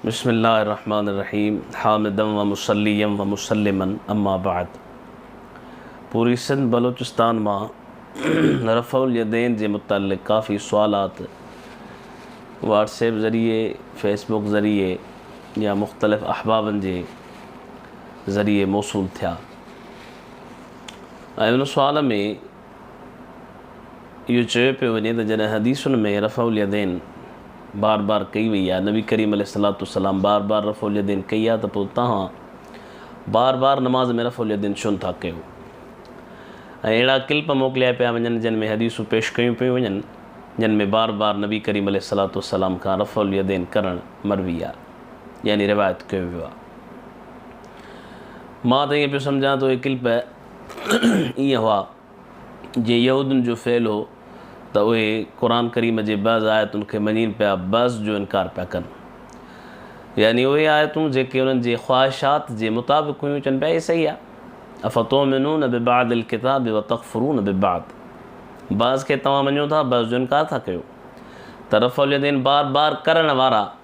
بسم الله الرحمٰن الرحيم حامدا ومصليا ومسلما اما بعد پوري سنڌ بلوچستان مان رفع اليدين جي متعلق ڪافي سوالات واٽس ايپ ذريعي فيس بڪ ذريعي يا مختلف احبابن جي ذريعي موصول ٿيا ۽ ان سوال ۾ اهو چيو پيو وڃي ته جڏهن حديثن ۾ رفع اليدين بار بار ڪئي وئي آهي، نبي ڪريم عليه الصلاة والسلام بار بار رفع اليدين ڪئي آهي ته پوء توهان بار بار نماز ۾ رفع اليدين ڇو نه ٿا ڪيو ۽ اهڙا ڪلپ موڪليا پيا وڃن جن ۾ حديثون پيش ڪيون پيون وڃن جن ۾ بار بار نبي ڪريم عليه الصلاة والسلام کان رفع اليدين ڪرڻ مروي آهي يعني روايت ڪيو ويو آهي. مان ته ائين پيو سمجهان ته اهي ڪلپ ايئن هئا، جي يهودين جو فعل هو ته اهي قرآن ڪريم جي بعض آيتن کي مڃين پيا بعض جو انڪار پيا ڪن يعني اهي آيتون جيڪي انهن جي خواهشات جي مطابق هيون چون پيا هي صحيح آهي افتؤمنون ببعض الڪتاب وتڪفرون ببعض بعض کي توهان مڃو ٿا بعض جو انڪار ٿا ڪيو ته رفع اليدين بار بار ڪرڻ وارا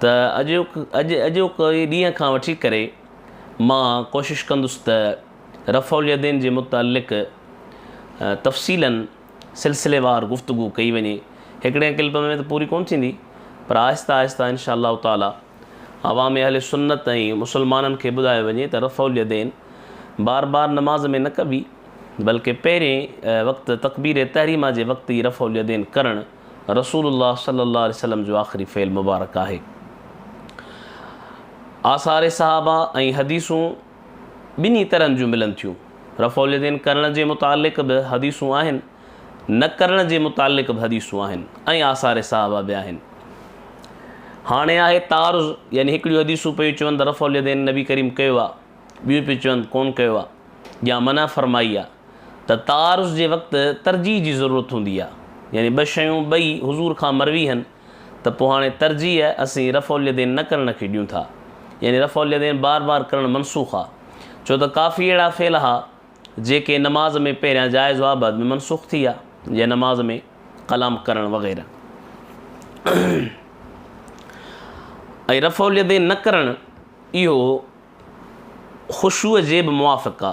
ته اڄ اڄ اڄوڪي ڏينهن کان وٺي ڪري مان ڪوشش ڪندس ته رفع اليدين جي متعلق تفصيلاً سلسليوار گفتگو ڪئي وڃي هڪڙي ڪلپ ۾ ته پوري ڪونه ٿيندي پر آهسته آهسته ان شاء الله تعاليٰ عوام اهل سنت ۽ مسلمانن کي ٻڌايو وڃي ته رفع اليدين بار بار نماز ۾ نه ڪبي بلڪه پهرين وقت تڪبير تحريمه جي وقت ئي رفع اليدين ڪرڻ رسول الله صلي الله عليه وسلم جو آخري فعل مبارڪ آهي. آثار صحابه ۽ حديثون ٻنهي طرحن جون ملن ٿيون. رفع اليدين ڪرڻ جي متعلق به حديثون آهن، نه ڪرڻ جي متعلق به حديثون آهن ۽ آثار صحابه به آهن. هاڻي آهي تعارض يعني هڪڙيون حديثون پيون چون ته رفع اليدين نبي ڪريم ڪيو آهي، ٻيون پيون چون ڪونه ڪيو آهي يا منع فرمائي آهي. ته تعارض جي وقت ترجيح جي ضرورت هوندي آ يعني ٻه شيون ٻئي حضور کان مروي هن ته پوء هاڻي ترجيح اسين رفع اليدين نه ڪرڻ کي ڏيون ٿا يعني رفع اليدين بار بار ڪرڻ منسوخ آ ڇو ته ڪافي اهڙا فعل ها جيڪي نماز ۾ پهريان جائز هئا بعد ۾ منسوخ ٿي ويا جيئن نماز ۾ ڪلام ڪرڻ وغيره ۽ رفع اليدين نه ڪرڻ اهو خشوع جي به موافق آ.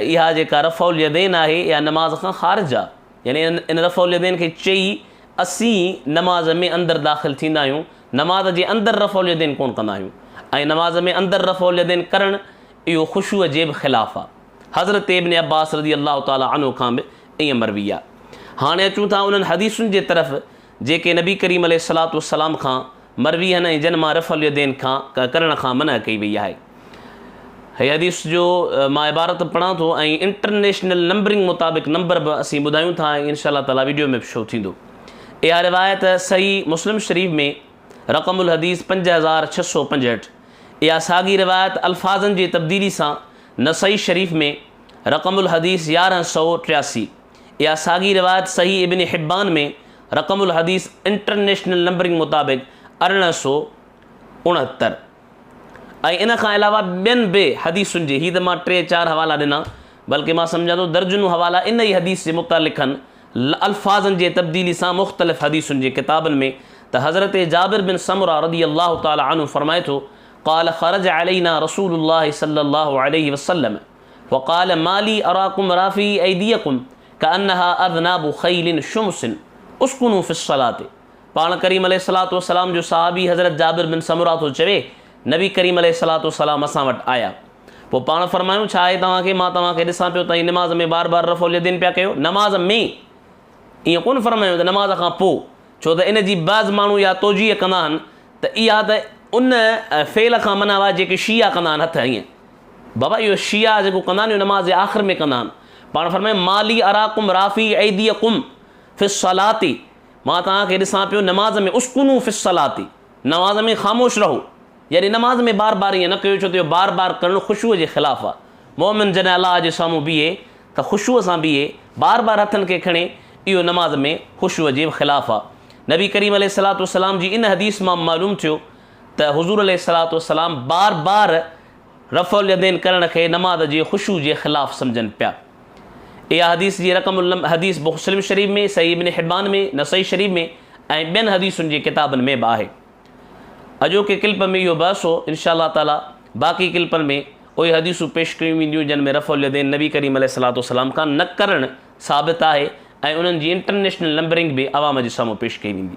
اها جيڪا رفع اليدين آهي اها نماز کان خارج آ يعني ان رفع اليدين کي چئي اسين نماز ۾ اندر داخل ٿيندا آهيون نماز جي اندر رفع اليدين ڪون ڪندا آهيون ۽ نماز ۾ اندر رفع اليدين ڪرڻ اهو خشوع جي به خلاف آ حضرت ابن عباس رضي الله تعالٰي عنه کان به ائين مروي آ هاڻي اچون ٿا انهن حديثن جي طرف جيڪي نبي ڪريم عليه الصلوة والسلام کان مرويين ۽ جن مان رفع اليدين کان ڪرڻ کان منع ڪئي وئي آهي. هيء حديث جو مان عبارت پڙهان ٿو ۽ انٽرنيشنل نمبرنگ مطابق نمبر به اسين ٻڌايون ٿا ۽ ان شاء الله تعالٰي وڊيو ۾ به شو ٿيندو. اها روايت صحيح مسلم شريف ۾ رقم الحديث پنج هزار ڇهه سؤ پنجهٺ. اها ساڳي روايت الفاظن جي تبديلي سان نسائي شريف ۾ رقم الحديث يارهن سؤ ٽياسي. اها ساڳي روايت صحيح ابن حبان ۾ رقم الحديث انٽرنيشنل نمبرنگ مطابق ارڙهن سؤ اڻهتر ۽ ان کان علاوه ٻين به حديثن جي هي ته مان ٽي چار حوالا ڏنا بلڪه مان سمجهان ٿو درجنون حوالا ان ئي حديث جي متعلقن الفاظن جي تبديلي سان مختلف حديثن جي ڪتابن ۾ ته حضرت جابر بن سمره رضي الله تعالٰي عنه فرمائي ٿو قال خرج علينا رسول الله صلي الله عليه وسلم وقال ما لي اراڪم رافعي ايديڪم کانها اذناب خيل شمس اسڪنو في الصلاة پاڻ ڪريم عليه الصلاة والسلام جو صحابي حضرت جابر بن سمره ٿو چوي نبي ڪريم عليه الصلاة والسلام اسان وٽ آيا پوء پاڻ فرمايون ڇا آهي توهان کي مان توهان کي ڏسان پيو توهان نماز ۾ بار بار رفع اليدين پيا ڪيو نماز ۾ ائين ڪونه فرمايون ته نماز کان پوء ڇو ته ان جي بعض ماڻهو اها توجيه ڪندا آهن ته اها ته ان فعل کان منع آهي جيڪي شيعا ڪندا آهن هٿ ائين بابا اهو شيعا جيڪو ڪندا آهن اهو نماز جي آخر ۾ ڪندا آهن پاڻ فرمائي مالي اراڪم رافي ايديڪم في الصلات مان توهان کي ڏسان پيو نماز ۾ اسڪنو في الصلات نماز ۾ خاموش رهو يعني نماز ۾ بار بار ائين نه ڪيو ڇو ته بار بار ڪرڻ خشوع جي خلاف آ مومن جڏهن الله جي سامهون بيهي ته خشوع سان بيهي بار بار هٿن کي کڻي اهو نماز ۾ خشوع جي خلاف آ نبي ڪريم عليه الصلات والسلام جي ان حديث مان معلوم ٿيو ته حضور عليه الصلوة والسلام بار بار رفع اليدين ڪرڻ کي نماز جي خشوع جي خلاف سمجهن پيا. اها حديث جي رقم الم حديث مسلم شريف ۾، صحيح ابن حبان ۾، نسائي شريف ۾ ۽ ٻين حديثن جي ڪتابن ۾ به آهي. اڄوڪي ڪلپ ۾ اهو بحث هو، ان شاء الله تعاليٰ باقي ڪلپن ۾ اهي حديثون پيش ڪيون وينديون جن ۾ رفع اليدين نبي ڪريم عليه الصلوة والسلام کان نه ڪرڻ ثابت آهي ۽ انهن جي انٽرنيشنل نمبرنگ به عوام جي سامهون پيش ڪئي ويندي.